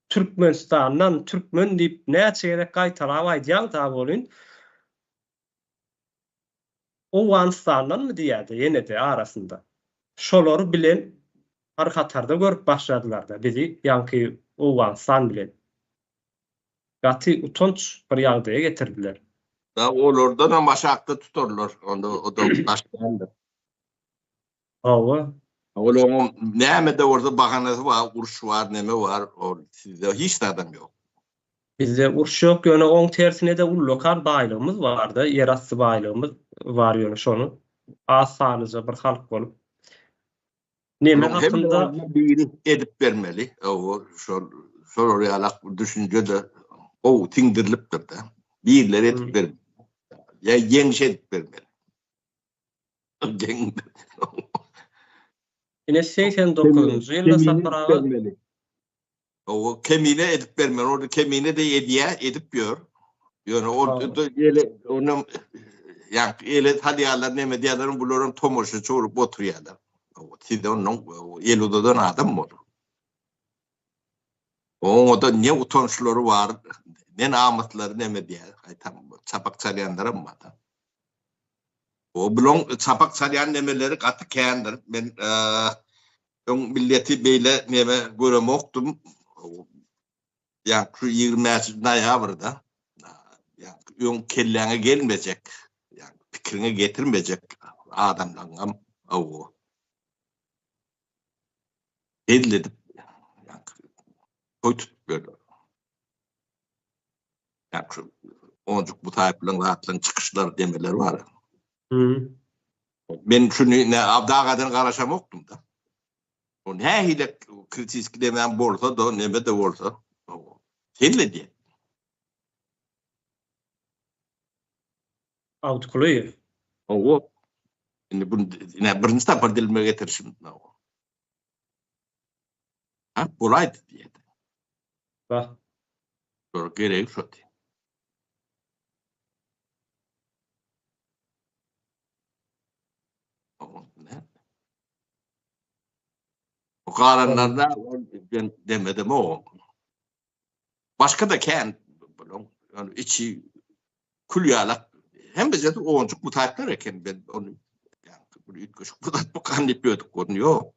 Türkmenistandan türkmen diýip näçe gezek gaýtalap aýdýaň sagbolyn. Owganystandanmy diýýädi ýenede arasynda. Şolary bilen bir hatarda görüp başladylarda bizi ýaňky Owganystan bilen. Gaty utanç bir ýagdaýa getirdiler. Dag olardanam aşakda tutarlar onda o da daş däldir. Hawa. Ol oňuň nämede bolsa bahanasy bar, uruş bar, neme bar, ol sizde hiç zadam ýok. Bizde uruş ýok, ýöne oň tersinede ullakan baýlygymyz barda, ýer asty baýlygymyz bar ýöne şony az sanlyja bir halk bolup neme hakynda biri edip bermeli, hawa şol şolar ýala düşünjede gowy siňdirilipdirda, birler edip bermeli, ýa ýeňiş edip bermeli. Ine segsen dokuzynjy ýylda Sapar aga. Owa kemine edip bermeli. Ony kemine de edýä, edip ýör. Ýöne o ýele onuň ýa ele salýarlar, näme diýerler, bular hem tomaşaçy bolup oturýarlar. Siz ondan ýel uzadan adam boluň. Oňada ne utançlary bar, ne namyslary neme diýýär, gaýtam çapak çalýanlaram bar. O bulaň çapak çalýan nemeleri gaty kändir. Men öň milleti beýle neme göremokdym. Ýa şu ýigrimi bäş noýabrda öň kelläňe gelmejek, pikiriňe getirmejek adamlaryňam owo. hezil edip toý tutup ýörler. Ýa şu onjuk bu taýplaryň zatlaryň çykyşlary, demeleri bar. Men şuny ne abdagadan garaşamokdym-da. O nähili kritiski demem bolsa-da, neme-de bolsa, hezil edýär. Awtkulyýew. Hawa. Indi bu ne birinji sapar dilime getirişim. Ha, bolaýdy diýdi. Bah. Şol gerek şo diýdi. O kalanlarda ben demedim o. Başga-da kän bularyň ýöne içi kül ýalak. Hem bizde onjuk mutantlar eken biz ony bir üýtgeşik bir zat bu kan diýip ýördük görün ýok.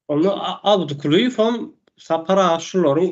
Onda Abdykulyýew hem Sapar aga şularyň